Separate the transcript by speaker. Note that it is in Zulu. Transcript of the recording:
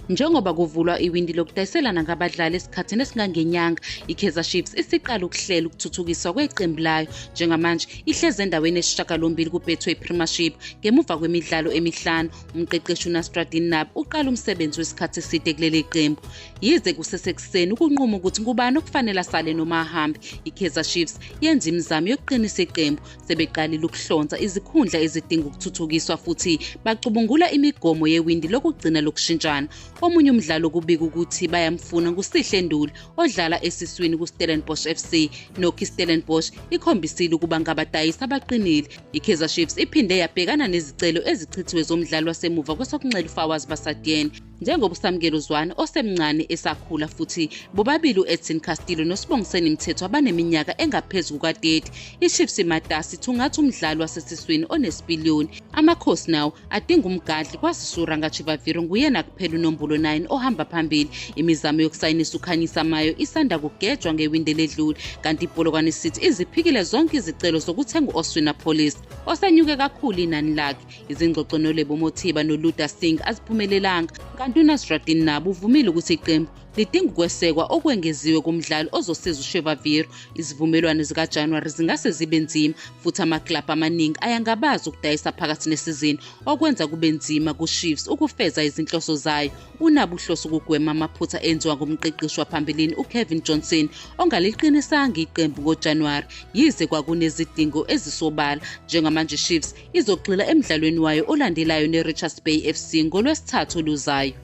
Speaker 1: njengoba kuvulwa iwindi lokudayiselana ngabadlali esikhathini esingangenyanga ikaizer chiefs isiqala ukuhlela ukuthuthukiswa kweqembu layo njengamanje ihleze endaweni esishagalombili kubethwe ipremieship ngemuva kwemidlalo emihlanu umqeqeshi unastradin nab uqala umsebenzi wesikhathi eside kuleli qembu yize kusesekuseni ukunquma ukuthi ngubani okufanele asale noma ahambe ikaizer chiefs yenza imizamo yokuqinisa iqembu sebeqalile ukuhlonza izikhundla ezidinga ukuthuthukiswa futhi bacubungula imigomo yewindi lokugcina lokushintshana omunye umdlalo kubika ukuthi bayamfuna ngusihle nduli odlala esiswini kustellenbosch fc nokho istellenbosch ikhombisile ukuba ngabadayisi abaqinile ikaizer chiefs iphinde yabhekana nezicelo ezichithiwe zomdlali wasemuva kwesokunxele ufawaz basadien njengoba usamukela uzwane osemncane esakhula futhi bobabili u-edson castillo nosibongiseni mthetho abaneminyaka engaphezu kuka-30 ichiefs imatasi thungathi umdlali wasesiswini onesipiliyoni amakhosi nawo adinga umgadli kwasisura ngachivaviro nguyena kuphela unombulo 9 ohamba phambili imizamo yokusayinisa ukhanyisa mayo isanda kugejwa ngewindi eledlule kanti ipolokwane city iziphikile zonke izicelo zokuthenga u-oswina police osenyuke kakhulu inani lakhe Izingxoxo noLebo Mothiba noLuda Singh aziphumelelanga kanti uNasruddin Nabi uvumile ukuthi iqembu lidinga ukwesekwa okwengeziwe kumdlali ozosiza uShevaviro. Izivumelwano zikaJanuary zingase zibe nzima futhi amaklabhu amaningi ayangabaza ukudayisa phakathi nesizini okwenza kube nzima kuChiefs ukufeza izinhloso zayo. UNabi uhlose ukugwema amaphutha enziwa ngumqeqeshi waphambilini uKevin Johnson ongaliqinisanga iqembu ngoJanuary yize kwakunezidingo ezisobala njengamanje Chiefs izogxila emdlalweni wayo olandelayo neRichards Bay FC ngoLwesithathu oluzayo.